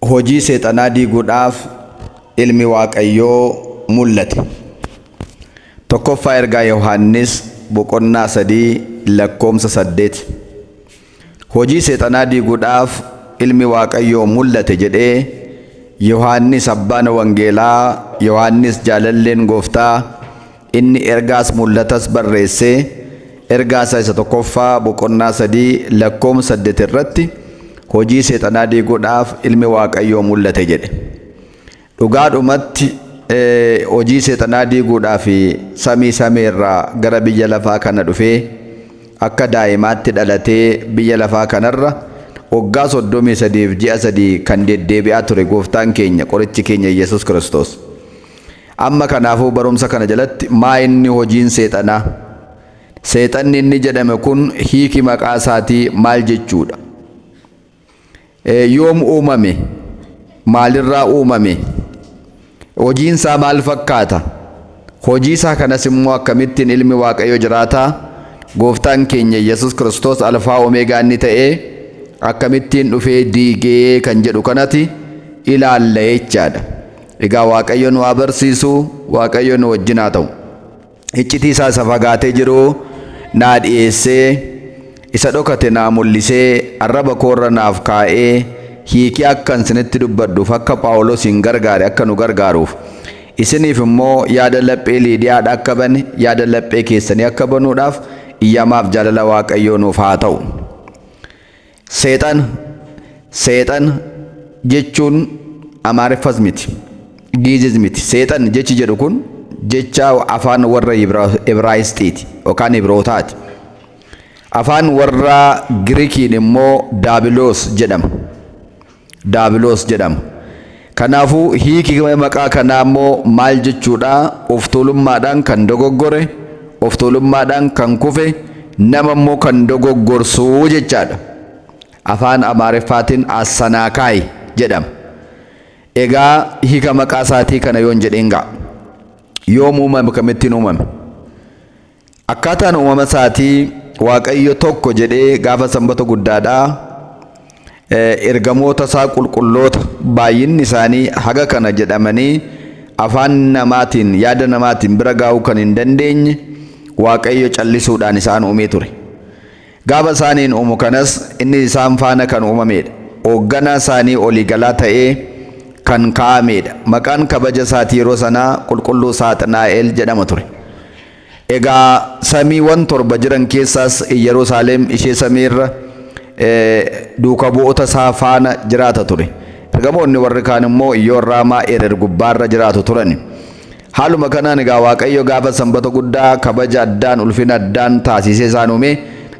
hojii seexanaa diiguudhaaf ilmi Waaqayyoo mul'ate. Tokkoffaa ergaa Yohaannis boqonnaa sadii lakkoomsa saddeet. Hojii seexanaa diiguudhaaf ilmi Waaqayyoo mul'ate jedhee Yohaannis abbaan wangeelaa Yohaannis jaalalleen gooftaa Inni ergaas mul'atas barreessee ergaa isaa isa tokkoffaa boqonnaa 3 lakkoom 8 irratti hojii seexanaa diiguudhaaf ilmi waaqayyoo mul'ate jedhe. Dhugaadhumatti hojii seexanaa diiguudhaaf samii samii irraa gara biyya lafaa kana dhufee akka daa'imaatti dhalatee biyya lafaa kanarra waggaa 33f ji'a 3 kan deddeebi'aa ture gooftaan keenya qorichi keenya Yesus Kiristoos. Amma kanaafuu barumsa kana jalatti maa inni hojiin seexanaa? Seexanni inni jedhame kun hiiki maqaa isaatii maal jechuudha? Yoom uumame? Maalirraa uumame? Hojiin isaa maal fakkaata? Hojii isaa kanas immoo akkamittiin ilmi Waaqayyo jiraataa gooftaan keenya Yesus Kiristoos alfaa omeegaa inni ta'ee akkamittiin dhufee diigee kan jedhu kanati ilaalla jechaadha. Egaa Waaqayyo nu haa barsiisu, Waaqayyo nu wajjin haa ta'u. Iccitii isaa isa fagaatee jiru naa dhiyeessee, isa dhokate naa mul'isee, arraba koo irra naaf kaa'ee, hiikee akkan isinitti dubbadhuuf akka Phaawulosiin gargaare akka nu gargaaruuf, isiniif immoo yaada laphee Liidiyaadha akka bane, yaada laphee keessanii akka banuudhaaf iyyamaaf jaalala Waaqayyoo nuuf haa ta'u. Seexana, Seexana, jechuun Amaariffas miti, Giizis miti. Seexan jechi jedhu kun jecha afaan warra Ibraayisxiiti yookaan Ibrootaati. Afaan warra Girikiin immoo daabiloos jedhama. Daabiloos jedhama. Kanaafuu hiiki maqaa kanaa immoo maal jechuudha? Oftuulummaadhaan kan dogoggore, oftuulummaadhaan kan kufe, nama immoo kan dogoggorsu jechaadha. Afaan Amaariffaatiin Assanaakaay jedhama. Egaa hiika maqaa isaatii kana yoon jedheen ga'a. Yoom uumame? Akkamittiin uumame? Akkaataan uumama isaatii Waaqayyo tokko jedhee gaafa sanbata guddaadhaa ergamoota isaa qulqulloota baay'inni isaanii haga kana jedhamanii afaan namaatiin yaada namaatiin bira gaa'uu kan hin dandeenye Waaqayyo callisuudhaan isaan uumee ture. Gaafa isaaniin uumu kanas inni isaan faana kan uumameedha. Oogganaa isaanii olii galaa ta'ee kan kaa'ameedha. Maqaan kabaja isaati yeroo sanaa Qulqulluu Saaxinaa'el jedhama ture. Egaa samiiwan torba jiran keessaas Iyyaruusaaleem ishee samiirra duuka bu'oota isaa faana jiraata ture. Ergamoonni warri kaan immoo Iyyoon Raamaa Erer gubbaarra jiraatu turani. Haaluma kanaan egaa Waaqayyo gaafa Sanbata guddaa kabaja addaan ulfina addaan taasisee isaan uumee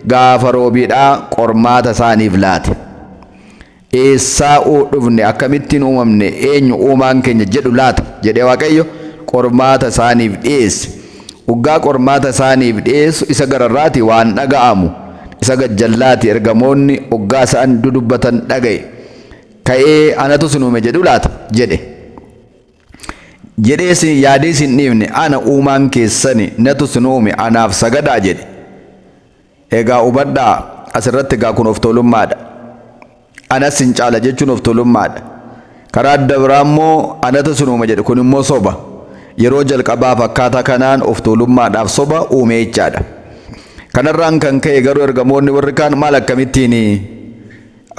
gaafa roobiidhaa qormaata isaaniif laate. Eessaa dhufne akkamittiin uumamne eenyu uumaan keenya jedhu laata jedhee Waaqayyo qormaata isaaniif dhiyeesse. Uggaa qormaata isaaniif dhiyeessu isa gararraati waan dhaga'amu isa gajjallaati ergamoonni uggaa isaan dudubbatan dhaga'e. Ka'ee anatu sin uume jedhu laata jedhe. jedhee isin yaadee isin dhiifne ana uumaan keessani natu isin uume anaaf sagadaa jedhe egaa hubadhaa asirratti egaa kun of tuulummaadha anas sin caala jechuun of tuulummaadha karaa adda biraa immoo anatu isin uuma jedhe kun immoo soba yeroo jalqabaaf akkaataa kanaan of tuulummaadhaaf soba uume jechaadha kanarraan kan ka'e garuu ergamoonni warri kaan maal akkamittiini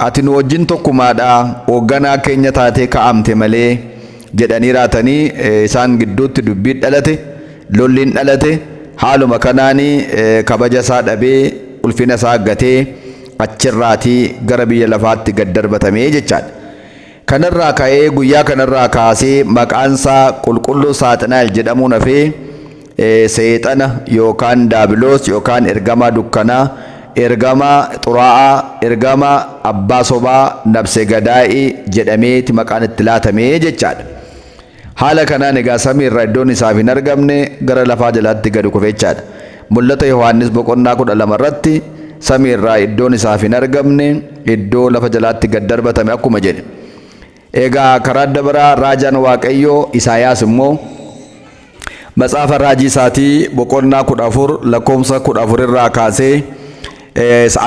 Ati nu wajjin tokkumaa dha, hoogganaa keenya taatee kaa'amte malee jedhanii raatanii isaan gidduutti dubbiin dhalate, lolliin dhalate, haaluma kanaan kabaja isaa dhabee, ulfina isaa gatee achirraatii gara biyya lafaatti gad darbatame jechaadha. Kanarraa ka'ee guyyaa kanarraa kaasee maqaan isaa qulqulluu Saaxinaa'el jedhamuun hafee, Seexana yookaan daabiloos yookaan ergamaa dukkanaa, ergamaa xuraa'aa, ergamaa abbaa sobaa, nabse gadaa'ii jedhameeti maqaan itti laatame jechaadha. Haala kanaan egaa samii irraa iddoon isaaf hin argamne gara lafaa jalaatti gadi kufe jechaadha. Mul'ata Yohaannis boqonnaa kudha lama irratti samii irraa iddoon isaaf hin argamne iddoo lafa jalaatti gad darbatame akkuma jedhe. Eegaa karaa adda baraa raajaan Waaqayyoo Isaayaas immoo matsaafa raajii isaatii boqonnaa 14 lakkoofsa 14 irraa kaasee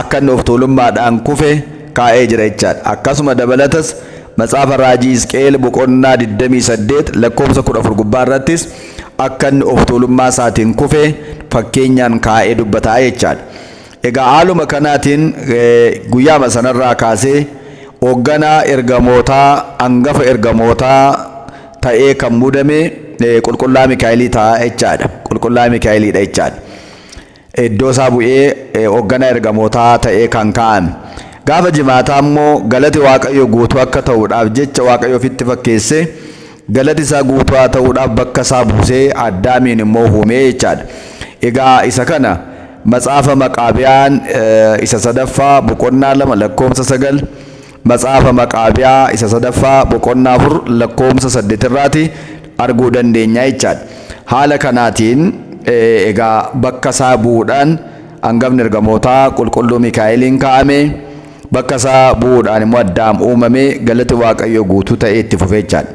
akka inni of tuulummaadhaan kufe kaa'ee jira jechaadha. Akkasuma dabalatas matsaafa raajii Hisqeel boqonnaa 28 lakkoofsa 14 gubbaa irrattis akka inni of tuulummaa isaatiin kufe fakkeenyaan kaa'ee dubbataa jechaadha. Egaa haaluma kanaatiin guyyaama sanarraa kaasee Hoogganaa ergamootaa angafa ergamootaa ta'ee kan muudame Qulqullaa Mikaa'elii ta'a jechaadha. Qulqullaa Mikaa'eliidha jechaadha. Iddoo isaa bu'ee hoogganaa ergamootaa ta'ee kan kaa'ame. Gaafa jimaataa immoo galati Waaqayyo guutuu akka ta'uudhaaf jecha Waaqayyo ofitti fakkeessee Galati isaa guutuu haa ta'uudhaaf bakka isaa buusee Addaamiin immoo huumee jechaadha. Egaa isa kana Matsaafa Maqaabiyaan isa sadaffaa boqonnaa lama lakkoomsa sagal Matsaafa Maqaabiyaa isa sadaffaa boqonnaa afur lakkoomsa saddeet irraati arguu dandeenya jechaadha. Haala kanaatiin egaa bakka isaa bu'uudhaan angafni ergamootaa qulqulluu Mikaa'eliin kaa'ame. Bakka isaa bu'uudhaan immoo Addaam uumame, galati Waaqayyoo guutuu ta'ee itti fufe jechaadha.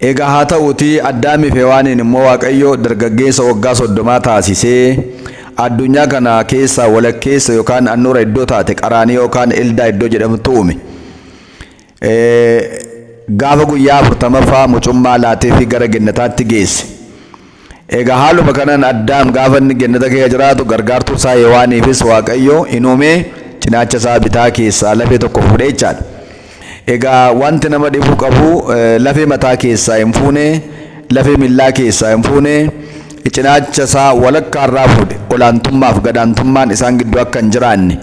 Egaa haa ta'uutii Addaamii fi Hewaaniin immoo Waaqayyo dargaggeessa waggaa soddomaa taasisee addunyaa kana keessaa walakkeessa yookaan annuura iddoo taate Qaraaniyoo yookaan Eldaa iddoo jedhamtu uume. Gaafa guyyaa afurtamaffaa mucummaa laateefii gara gennataatti geesse. Egaa haaluma kanaan Addaam gaafa inni gennata keessa jiraatu gargaartuu isaa Hewaaniifis Waaqayyo in uume cinaacha isaa bitaa keessaa lafee tokko fuudhe jechaadha. Egaa wanti nama dhibuu qabu lafee mataa keessaa hin fuune, lafee miillaa keessaa hin fuune, cinaacha isaa walakkaa irraa fuudhe olaantummaaf gadaantummaan isaan gidduu akka hin jiraanne.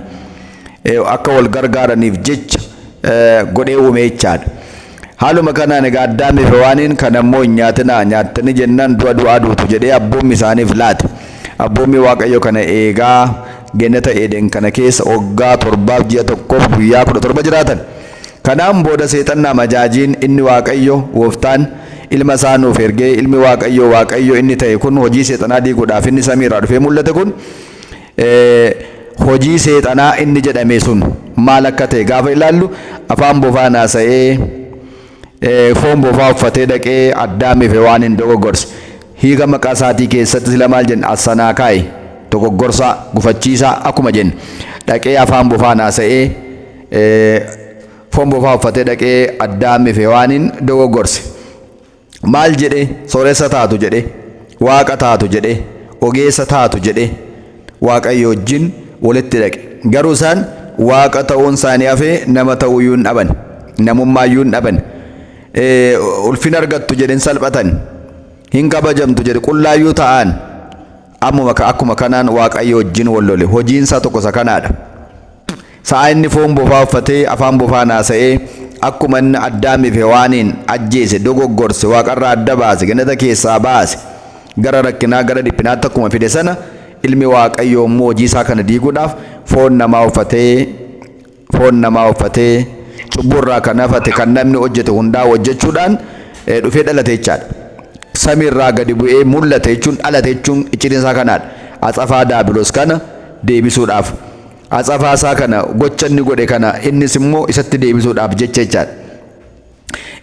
akka wal gargaaraniif jecha godhee uume jechaadha. Haaluma kanaan egaa Addaamii fi Hewaaniin kan ammoo hin nyaatinaa nyaattanii jennaan du'a du'aa duutu jedhee abboommi isaaniif laate. Abboommii Waaqayyo kana eegaa geenata Eeden kana keessa waggaa torbaaf ji'a tokkoof guyyaa kudha torba jiraatan. Kanaan booda seexanna amajaajiin inni Waaqayyo gooftaan ilma isaa nuuf ergee ilmi Waaqayyo Waaqayyo inni ta'e kun hojii seexanaa diiguudhaaf inni samii irraa dhufee mul'ate kun hojii seexanaa inni jedhame sun maal akka ta'e gaafa ilaallu afaan bofaan haasa'ee foon bofaa uffatee dhaqee addaamiif waan hin dogoggorse hiika maqaa isaatii keessatti sila maal jenna assanaa kaa'e dogoggorsaa gufachiisaa akkuma jennu dhaqee afaan bofaan haasa'ee foon bofaa uffatee dhaqee addaamiif waaniin dogoggorse. Maal jedhe? Sooressa taatu jedhe, waaqa taatu jedhe, ogeessa taatu jedhe, Waaqayyo wajjin walitti dhaqe. Garuu isaan waaqa ta'uun isaanii hafee nama ta'uu iyyuu hin dhaban. Namummaa iyyuu hin dhaban. Ulfina argattu jedhe hin salphatan. Hin kabajamtu jedhe qullaa iyyuu ta'an. Ammuma ka akkuma kanaan Waaqayyo wajjin wal lole. Hojiin isaa tokko isa kanaa dha. Sa'a inni foon bofaa uffatee, afaan bofaan haasa'ee, akkuma inni Addaamii fi Hewaaniin ajjeese, dogoggorse, Waaqa irraa adda baase, Gannata keessaa baase, gara rakkinaa, gara dhiphinaatti akkuma fide sana, Ilmi Waaqayyoo immoo hojii isaa kana diiguudhaaf foon namaa uffatee foon namaa uffatee, cubbuu irraa kan hafate, kan namni hojjete hundaa hojjechuudhaan dhufee dhalate jechaadha. Samii irraa gadi bu'ee mul'ate jechuun dhalate jechuun iccitiin isaa kanaadha. Atsafaa daabilos kana deebisuudhaaf. Atsafaa isaa kana gocha inni godhe kana innis immoo isatti deebisuudhaaf jecha jechaadha.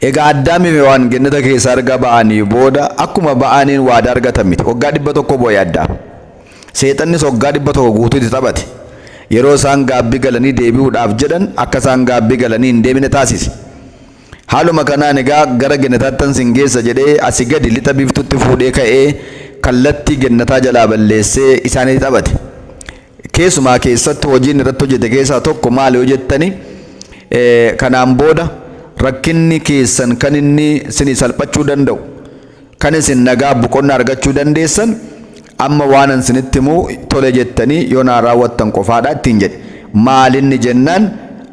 Egaa Addaamii fi Hewaan gennata keessaa erga ba'anii booda akkuma ba'aniin waadaa argatan miti. Waggaa dhibba tokko boo'e Addaam. Seexannis waggaa dhibba tokko guutuu itti taphate. Yeroo isaan gaabbii galanii deebi'uudhaaf jedhan akka isaan gaabbii galanii hin deebine taasise. Haaluma kanaan egaa gara gennataattan sin geessa jedhee asi gadi lixa biiftuutti fuudhee ka'ee kallattii gennataa jalaa balleessee isaanitti taphate. Keessumaa keessatti hojiin irratti hojjete keessaa tokko maal yoo jettani kanaan booda rakkinni keessan kan inni sinii salphachuu danda'u kan isin nagaa boqonnaa argachuu dandeessan amma waanan sinitti himu tole jettanii yoo naa raawwattan qofaadha ittiin jedhe maalinni jennaan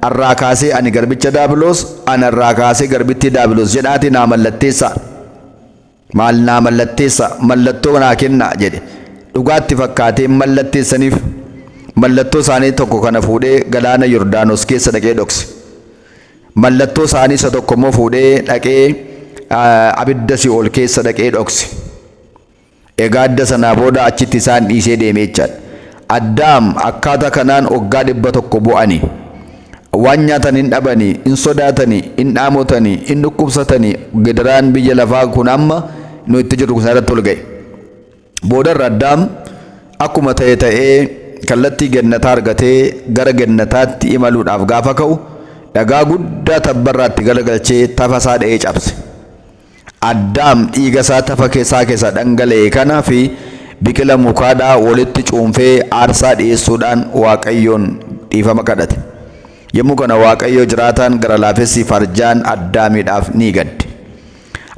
arraa kaasee ani garbicha daabiloos anarraa kaasee garbittii daabiloos jedhaatii naa mallatteessaa Maal naa mallatteessaa? Mallattoo naa kennaa! jedhe. Dhugaa itti fakkaatee mallatteessaniif. Mallattoo isaanii tokko kana fuudhee galaana Yordaanos keessa dhaqee dhokse. Mallattoo isaanii isa tokko immoo fuudhee dhaqee abidda si'ool keessa dhaqee dhokse. Egaa adda sanaa booda achitti isaan dhiisee deemee jechaadha. Addaam akkaataa kanaan waggaa dhibba tokko bu'ani. Waan nyaatan hin dhabanii, hin sodaatanii, hin dhaamotanii, hin dhukkubsatanii gidiraan biyya lafaa kun amma nu itti jirru kun irratti ol ga'e. Boodarra Addaam akkuma ta'e ta'ee kallattii gennataa argatee gara gennataatti imaluudhaaf gaafa ka'u dhagaa guddaa tabbarraatti galagalchee tafa isaa dha'ee cabse. Addaam dhiiga isaa tafa isaa keessaa dhangala'e kana fi biqila mukaa dhaa walitti cuunfee aarsaa dhi'eessuu dhaan Waaqayyoon dhiifama kadhate. Yommuu kana Waaqayyo jiraataan gara laafessi farjaan Addaamii dhaaf ni gadde.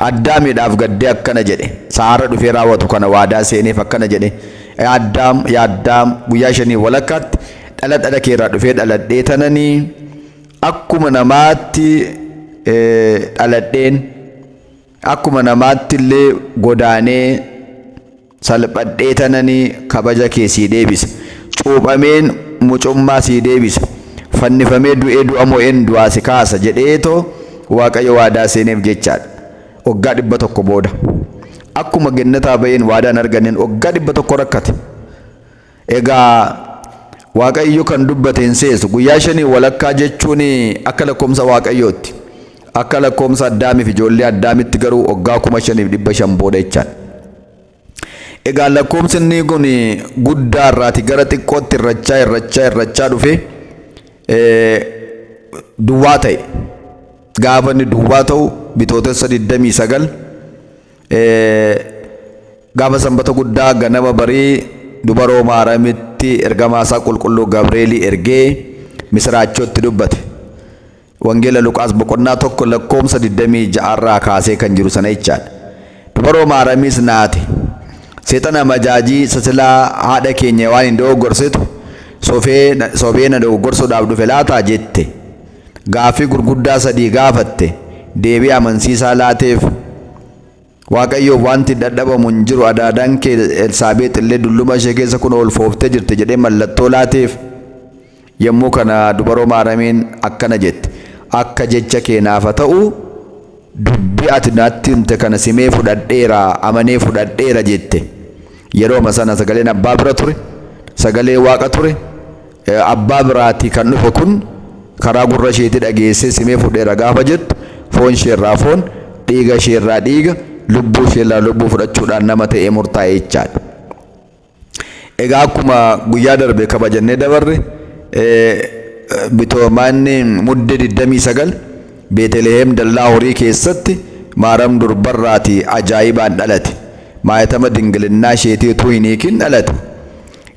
Addaamii dhaaf gaddee akkana jedhe, Isa har'a dhufee raawwatu kana waadaa seeneef akkana jedhe, Yaa Addaam, yaa Addaam, guyyaa shanii walakkaatti dhala dhala kee irraa dhufee dhaladhee tananii, Akkuma namaatti dhaladheen akkuma namaatti illee godaanee salphadhee tananii kabaja kee sii deebisa. Cuuphameen mucummaa sii deebisa. Fannifamee du'ee du'a mo'een du'aa si kaasa jedheetoo Waaqayyo waadaa seeneef jechaadha. Waggaa dhibba tokko booda. Akkuma gennataa ba'een waadaa hin arganneen waggaa dhibba tokko rakkate. Egaa Waaqayyo kan dubbate hin seesu. Guyyaa shanii walakkaa jechuun akka lakkoomsa Waaqayyootti. Akka lakkoomsa Addaamiif ijoollee Addaamitti garuu waggaa kuma shaniif dhibba shan booda jechaan. Egaa lakkoomsinni kun guddaa irraati gara xiqqootti irrachaa irrachaa irrachaa dhufe duwwaa ta'e. Gaafa inni duwwaa ta'u bitootessa 29 Gaafa sanbata guddaa ganama barii dubaroo maaramitti ergamaa isaa qulqulluu Gabreelii ergee misiraachoo itti dubbate. Wangeela Luqaas boqonnaa tokko lakkoomsa 26 irraa kaasee kan jiru sana jechaadha. Dubaroo maaramiis naate. Seexana majaajii isa silaa haadha keenya waan hin dogoggorsitu sobee na dogoggorsuudhaaf dhufe laata jette. gaaffii gurguddaa sadii gaafatte deebii amansiisaa laateef. Waaqayyoof wanti dadhabamu hin jiru, adaadaan kee Elsaabeex illee dulluma ishee keessa kunoo ulfooftee jirti jedhee mallattoo laateef. Yommuu kana dubaroo Maaramiin akkana jette, Akka jecha kee naaf haa ta'u, dubbi ati natti himte kana simee fudhadheera, amanee fudhadheera jette. Yerooma sana sagaleen abbaa bira ture, sagalee Waaqa ture, Abbaa biraatii kan dhufe kun karaa gurra isheetii dhageessee simee fudheera gaafa jettu foon isheerraa foon, dhiiga isheerraa dhiiga, lubbuu isheerraa lubbuu fudhachuudhaan nama ta'ee murtaa'e jechaadha. Egaa akkuma guyyaa darbe kabajannee dabarre bitoomaanni mudde 29 Beeteliheem dallaa horii keessatti Maaram durbarraatii ajaa'ibaan dhalate. Maayatama dingilinnaa isheetii utuu hin hiikin dhalate.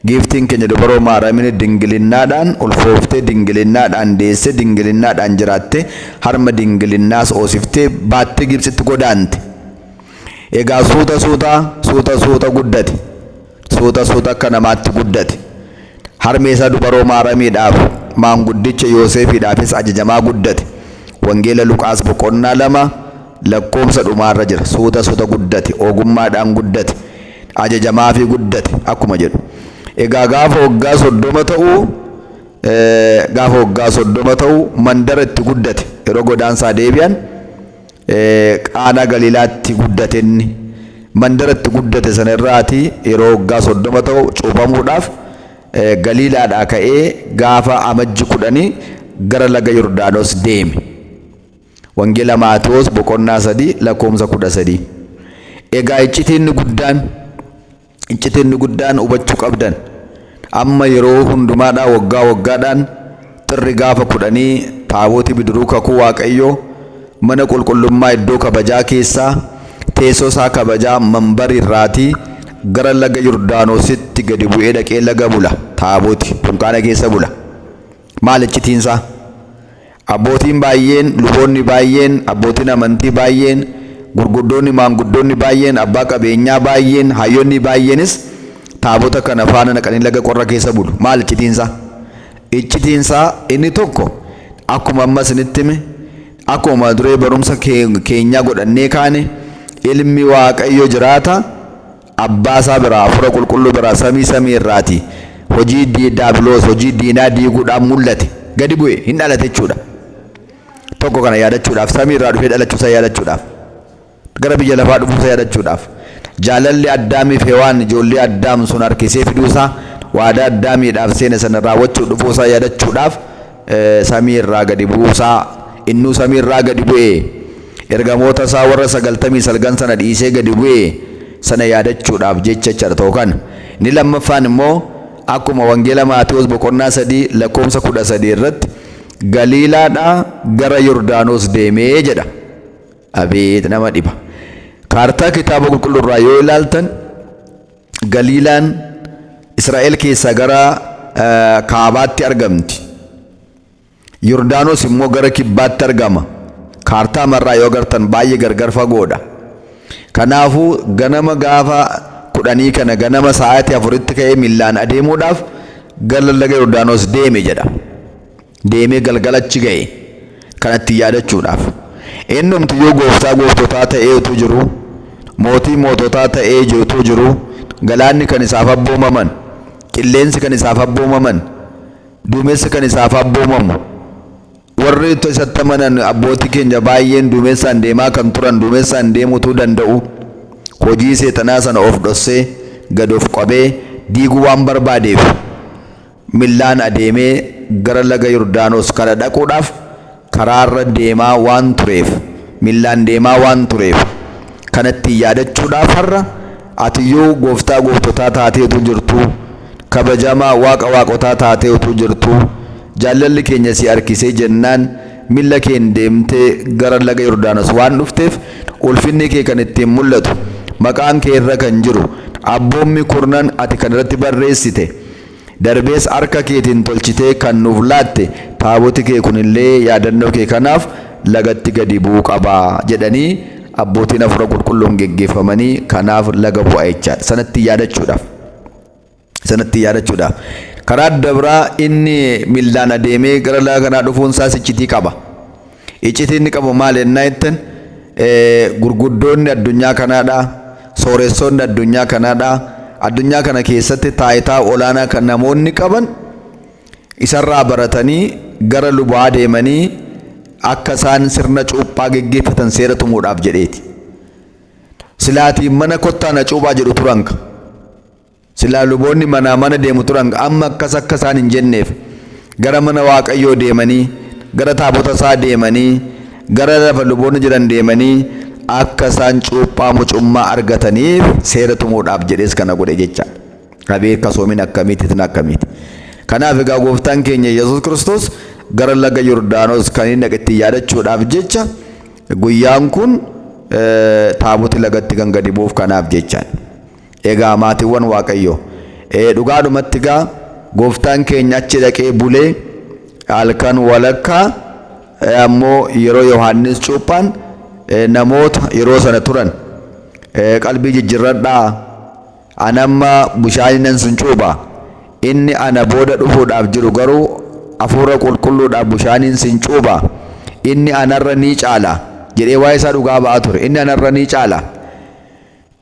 Giiftiin keenya Dubaroo Maaraamin dingilinnaadhaan ulfooftee, dingilinnaadhaan deessee, dingilinnaadhaan jiraattee, harma dingilinnaas hoosiftee baattee Gibtsitti godaante. Egaa suuta suuta, suuta suuta guddate. Suuta suuta akka namaatti guddate. Harmee isaa Dubaroo Maaramiidhaaf, maanguddicha Yooseefiidhaafis ajajamaa guddate. Wangeela Luqaas boqonnaa 2 lakkoofsa dhumaarra jira. Suuta suuta guddate, ogummaadhaan guddate. ajajamaafii guddate akkuma jedhu. Egaa gaafa waggaa soddoma ta'u gaafa waggaa soddoma ta'u mandara itti guddate yeroo godaansaa deebi'an qaanaa galiilaatti guddate inni. Mandara itti guddate sana irraati yeroo waggaa soddoma ta'u cuuphamuudhaaf galiilaadhaa ka'ee gaafa amajji kudhanii gara laga Yordaanos deeme. Wangeela Maatewos boqonnaa 3 lakkoomsa 13. Egaa iccitiin inni guddaan, iccitiin inni guddaan hubachuu qabdan, amma yeroo hundumaadhaa waggaa waggaadhaan xirri gaafa kudhanii taabooti bidiruu kakuu Waaqayyoo mana qulqullummaa iddoo kabajaa keessaa teessoo isaa kabajaa manbari irraatii gara laga Yordaanositti gadi bu'ee dhaqee laga bula, taabooti dunkaana keessa bula. Maal iccitiin isaa? Abbootiin baay'een, luboonni baay'een, abbootiin amantii baay'een, gurguddoonni, maanguddoonni baay'een, abbaa qabeenyaa baay'een, hayyonni baay'eenis Taabota kana faana naqanii laga qorra keessa bulu. Maal iccitiin isaa? Iccitiin isaa inni tokko akkuma amma isinitti hime, akkuma mata duree barumsa keenyaa godhannee kaane, ilmi Waaqayyo jiraata, Abbaa isaa biraa, Hafuura Qulqulluu biraa, samii samii irraati hojii Daabiloos, hojii diinaa diiguudhaaf mul'ate, gadi bu'e, hin dhalate jechuudha. Tokko kana yaadachuudhaaf, samii irraa dhufee dhalachuu isaa yaadachuudhaaf, gara biyya lafaa dhufuu isaa yaadachuudhaaf, jaalalli Addaamiif Hewaan ijoollee Addaam sun harkisee fiduu isaa, waadaa Addaamiidhaaf seene sana raawwachuuf dhufuu isaa yaadachuudhaaf, samii irraa gadi bu'uu isaa, innuu samii irraa gadi bu'e, ergamoota isaa warra sagaltamii salgan sana dhiisee gadi bu'e sana yaadachuudhaaf jecha jechaadha tokko kana. Inni lammaffaan immoo akkuma Wangeela Maatewos boqonnaa sadii lakkoofsa kudha sadii irratti Galiilaadhaa gara Yordaanos deemee jedha. Abeet nama dhiba. Kaartaa kitaaba qulqulluu irraa yoo ilaaltan Galiilaan Israa'el keessaa gara kaabaatti argamti. Yordaanos immoo gara kibbaatti argama. Kaartaa marraa yoo agartan baay'ee gargar fagoodha. Kanaafuu ganama gaafa kudhanii kana ganama sa'aatii afuritti ka'ee millaan adeemuudhaaf gara laga Yordaanos deeme jedha. deemee galgala achi ga'e kana ittiin yaadachuudhaaf. Innumti iyyuu gooftaa gooftotaa ta'ee utuu jiruu, mootii moototaa ta'ee utuu jiruu, galaanni kan isaaf abboomaman, qilleensi kan isaaf abboomaman, duumessi kan isaaf abboomamu, warri isatti amanan abbootii keenya baay'een duumessaan deemaa kan turan duumessaan deemuu utuu danda'u hojii seexanaa sana of dhossee gad of qabee diiguu waan barbaadeef Millaan adeemee gara laga Yordaanos kana dhaquudhaaf karaarra deemaa waan tureef, millaan deemaa waan tureef, kana ittiin yaadachuudhaaf har'a ati yoo Gooftaa gooftotaa taatee utuu jirtuu, kabajamaa Waaqa waaqotaa taatee utuu jirtuu, jaallalli keenya si harkisee jennaan milla keen deemtee gara laga Yordaanos waan dhufteef ulfinni kee kan ittiin mul'atu, maqaan kee irra kan jiru, abboommi kurnan ati kan irratti barreessite, Darbees harka keetiin tolchitee kan nuuf laatte taaboti kee kun illee yaadannoo kee kanaaf lagatti gadi bu'uu qaba jedhanii abbootiin hafuura qulqulluun geggeeffamanii kanaaf laga bu'a jechaadha. Sanatti yaadachuudhaaf. Sanatti yaadachuudhaaf. Karaa adda biraa inni millaan adeemee gara laga kanaa dhufuun isaas iccitii qaba. Iccitii inni qabu maali ennaa jettan, gurguddoonni addunyaa kanaadha, sooressoonni addunyaa kanaadha, addunyaa kana keessatti taayitaa olaanaa kan namoonni qaban isarraa baratanii gara lubaa deemanii akka isaan sirna cuuphaa geggeeffatan seera tumuudhaaf jedheeti. Silaatii mana kottaa na cuuphaa jedhu turanka. Silaa luboonni manaa mana deemu turan amma akkas akka isaan hin jenneef gara mana Waaqayyoo deemanii, gara taabota isaa deemanii, gara lafa luboonni jiran deemanii akka isaan cuuphaa mucummaa argataniif seera tumuudhaaf jedhees kana godhe jechaadha. Abeet kasoomin akkamiiti itin akkamiiti. Kanaaf egaa gooftaan keenya Yesuus Kiristoos gara laga Yordaanos kan inni dhaqe ittiin yaadachuudhaaf jecha guyyaan kun taaboti lagatti kan gadi bu'uuf kanaaf jechaadha. Egaa maatiwwan Waaqayyoo. Ee dhugaadhumatti egaa gooftaan keenya achi dhaqee bulee halkan walakkaa ee ammoo yeroo Yohaannis cuuphaan ee namoota yeroo sana turan ee qalbii jijjirradhaa an amma bushaaninan sun cuupha inni ana booda dhufuudhaaf jiru garuu hafuura qulqulluudhaaf bushaaniin sin cuupha inni anarra ni caala jedhee waa'ee isaa dhugaa ba'aa ture inni anarra ni caala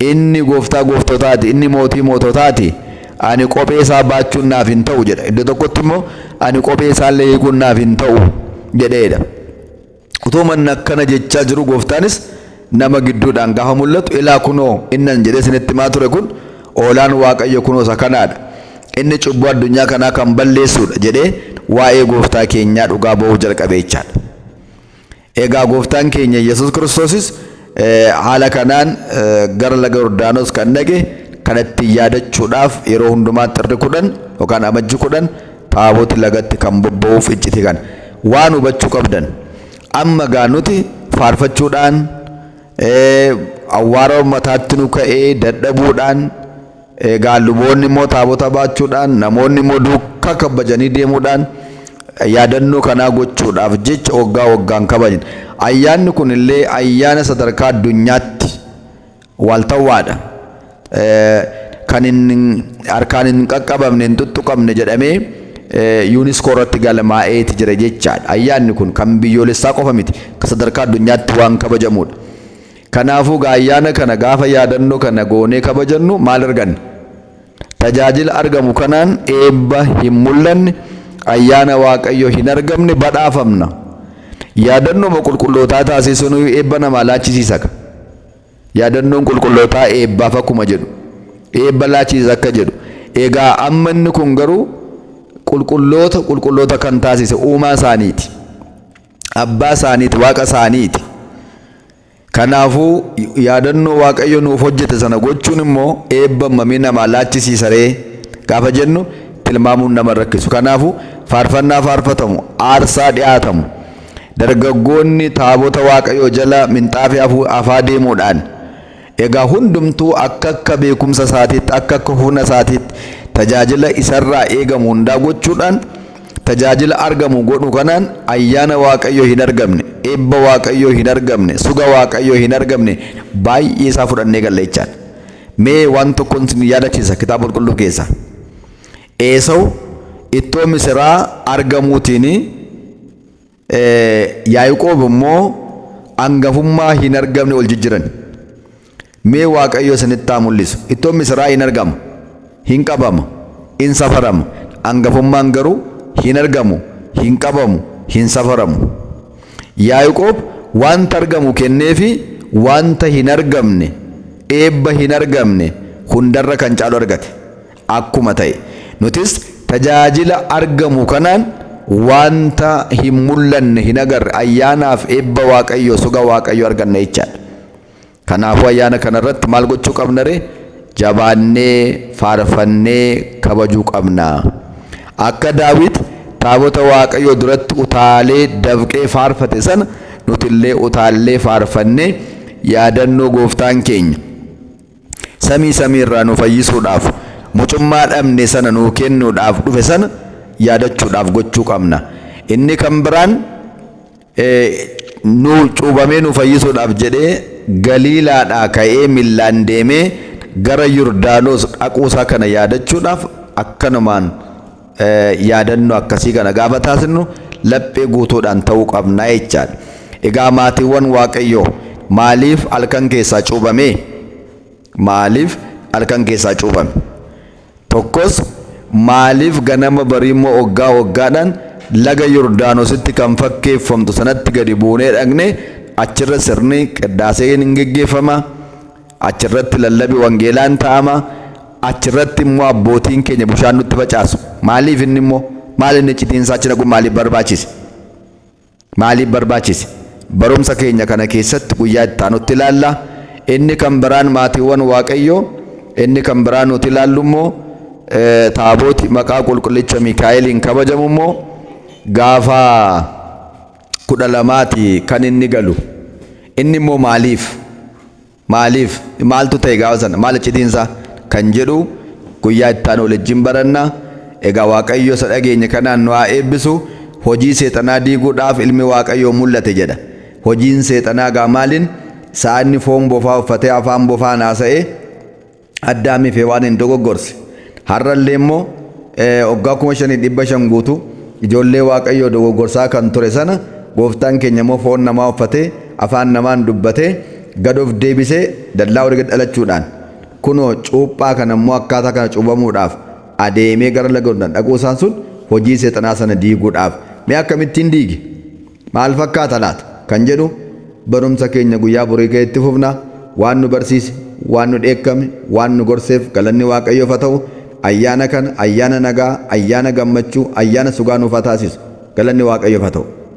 Inni Gooftaa gooftotaa ti, inni Mootii moototaa ti, ani kophee isaa baachuun naaf hin ta'u jedha. Iddoo tokkotti immoo, ani kophee isaa illee hiikuun naaf hin ta'u jedhee dha. Utuuma inni akkana jechaa jiruu Gooftaanis nama gidduudhaan gaafa mul'atu, ilaa kunoo inni ani jedhee isinitti himaa ture kun Hoolaan Waaqayyo kunoo isa kanaa dha, inni cubbuu addunyaa kanaa kan balleessuu dha jedhee waa'ee Gooftaa keenyaa dhugaa ba'uu jalqabe jechaa dha. Egaa Gooftaan keenya Yesus Kiristoosis haala kanaan gara laga Yordaanos kan dhaqe kana ittiin yaadachuudhaaf yeroo hundumaa xirri kudhan yookaan amajji kudhan taaboti lagatti kan bobba'uuf icciti kana. Waan hubachuu qabdan amma gaa nuti faarfachuudhaan awwaara mataatti nu ka'ee dadhabuudhaan Egaa luboonni immoo taabota baachuudhaan, namoonni immoo duukaa kabbajanii deemuudhaan yaadannoo kanaa gochuudhaaf jecha waggaa waggaan kabajna. Ayyaanni kun illee ayyaana sadarkaa addunyaatti waaltawwaadha. Kan hin harkaan hin qaqqabamne, hin tuttuqamne jedhamee yuuniskoo irratti galmaa'eeti jira jechaadha. Ayyaanni kun kan biyyoolessaa qofa miti, kan sadarkaa addunyaatti waan kabajamudha. Kanaafuu egaa ayyaana kana gaafa yaadannoo kana goonee kabajannu maal arganna? Tajaajila argamu kanaan eebba hin mul'anne, ayyaana Waaqayyoo hin argamne badhaafamna. Yaadannooma qulqullootaa taasisuunuyuu eebba namaa laachisiisaka. Yaadannoon qulqullootaa eebbaaf akkuma jedhu, eebba laachisiisa akka jedhu, egaa amma inni kun garuu qulqulloota qulqulloota kan taasise uumaa isaaniiti. abbaa isaaniiti, waaqa isaaniiti. Kanaafuu yaadannoo Waaqayyo nuuf hojjete sana gochuun immoo eebba hammamii namaa laachisiisa ree gaafa jennu tilmaamuun nama rakkisu. Kanaafuu faarfannaa faarfatamu, aarsaa dhiyaatamu, dargaggoonni taabota Waaqayyoo jala minxaafii afaa deemuudhaan Egaa hundumtuu akka akka beekumsa isaatiitti, akka akka humna isaatiitti tajaajila isarraa eegamu hundaa gochuudhaan tajaajila argamu godhu kanaan ayyaana Waaqayyoo hin argamne, eebba Waaqayyoo hin argamne, suga Waaqayyoo hin argamne baay'ee isaa fudhannee galla jechaadha. Mee waan tokkon sin yaadachiisa kitaaba qulqulluu keessaa. Eesawu ittoo misiraa argamuutiin Yaaqoob immoo angafummaa hin argamne ol jijjiran. Mee Waaqayyo isinitti haa mul'isu. Ittoon misiraa hin argama, hin qabama, hin safarama. Angafummaan garuu hin argamu, hin qabamu, hin safaramu. Yaaqoob wanta argamu kenneefi wanta hin argamne, eebba hin argamne hundarra kan caalu argate. akkuma ta'e nutis tajaajila argamu kanaan wanta hin mul'anne hin agarre ayyaanaaf eebba waaqayyoo soga waaqayyoo arganna jechaadha. Kanaafuu ayyaana kanarratti maal gochuu qabna ree? Jabaannee faarfannee kabajuu qabna. Akka Daawit taabota waaqayyoo duratti utaalee dafqee faarfate sana nutillee utaallee faarfannee yaadannoo gooftaan keenya samii samii irraa nu fayyisuudhaaf mucummaa dhabne sana nuu kennuudhaaf dhufe sana yaadachuudhaaf gochuu qabna. Inni kan biraan nu cuubamee nu fayyisuudhaaf jedhee Galiilaadhaa ka'ee millaan deemee gara Yordaanos dhaquusaa kana yaadachuudhaaf akkanumaan yaadannoo akkasii kana gaafa taasisnu laphee guutuudhaan ta'uu qabna jechaadha. Egaa maatiiwwan Waaqayyoo maaliif halkan keessaa cuubame? Maaliif halkan keessaa cuubame? Tokkos maaliif ganama barii immoo waggaa waggaadhaan laga Yordaanositti kan fakkeeffamtu sanatti gadi buunee dhaqne achirra sirni qiddaaseen hin geggeeffama. Achi irratti lallabi wangeelaa in ta'ama, achi irratti immoo abbootiin keenya bushaan nutti facaasu. Maaliif inni immoo? Maal inni iccitiin isaa achi dhaquun maaliif barbaachise? Maaliif barbaachise? Barumsa keenya kana keessatti guyyaa itti aanutti ilaalla. Inni kan biraan maatiiwwan Waaqayyoo, inni kan biraa nuti ilaallu immoo eh, taabooti maqaa qulqullicha Mikaa'eliin kabajamu immoo gaafa kudha lamaati kan inni galu. Inni immoo maaliif? Maaliif? Maaltu ta'e gaafa sana? Maal iccitiinsaa? Kan jedhu guyyaa itti aanu walijjin baranna. Egaa Waaqayyo isa dhageenye kanaan nu haa eebbisu. Hojii seexanaa diiguudhaaf ilmi Waaqayyoo mul'ate jedha. Hojiin seexanaa egaa maaliin? Isaa inni foon bofaa uffatee afaan bofaan haasa'ee, Addaamii fi Hewaaniin dogoggorse. Har'a illee immoo waggaa kuma shanii dhibba shan guutuu ijoollee Waaqayyoo dogoggorsaa kan ture sana gooftaan keenya immoo foon namaa uffatee afaan namaan dubbatee gad of deebisee dallaa olii gad dhalachuudhaan kunoo cuuphaa kana immoo akkaataa kana cuubamuudhaaf adeemee gara laga Yordaan dhaquu isaan sun hojii seexanaa sana diiguudhaaf mee akkamittiin diige? Maal fakkaata laata? kan jedhu barumsa keenya guyyaa borii kee itti fufna. Waan nu barsiise, waan nu dheekkame, waan nu gorseef galanni Waaqayyoof ha ta'u. Ayyaana kana ayyaana nagaa, ayyaana gammachuu, ayyaana sugaa nuuf ha taasisu. Galanni Waaqayyoof ha ta'u.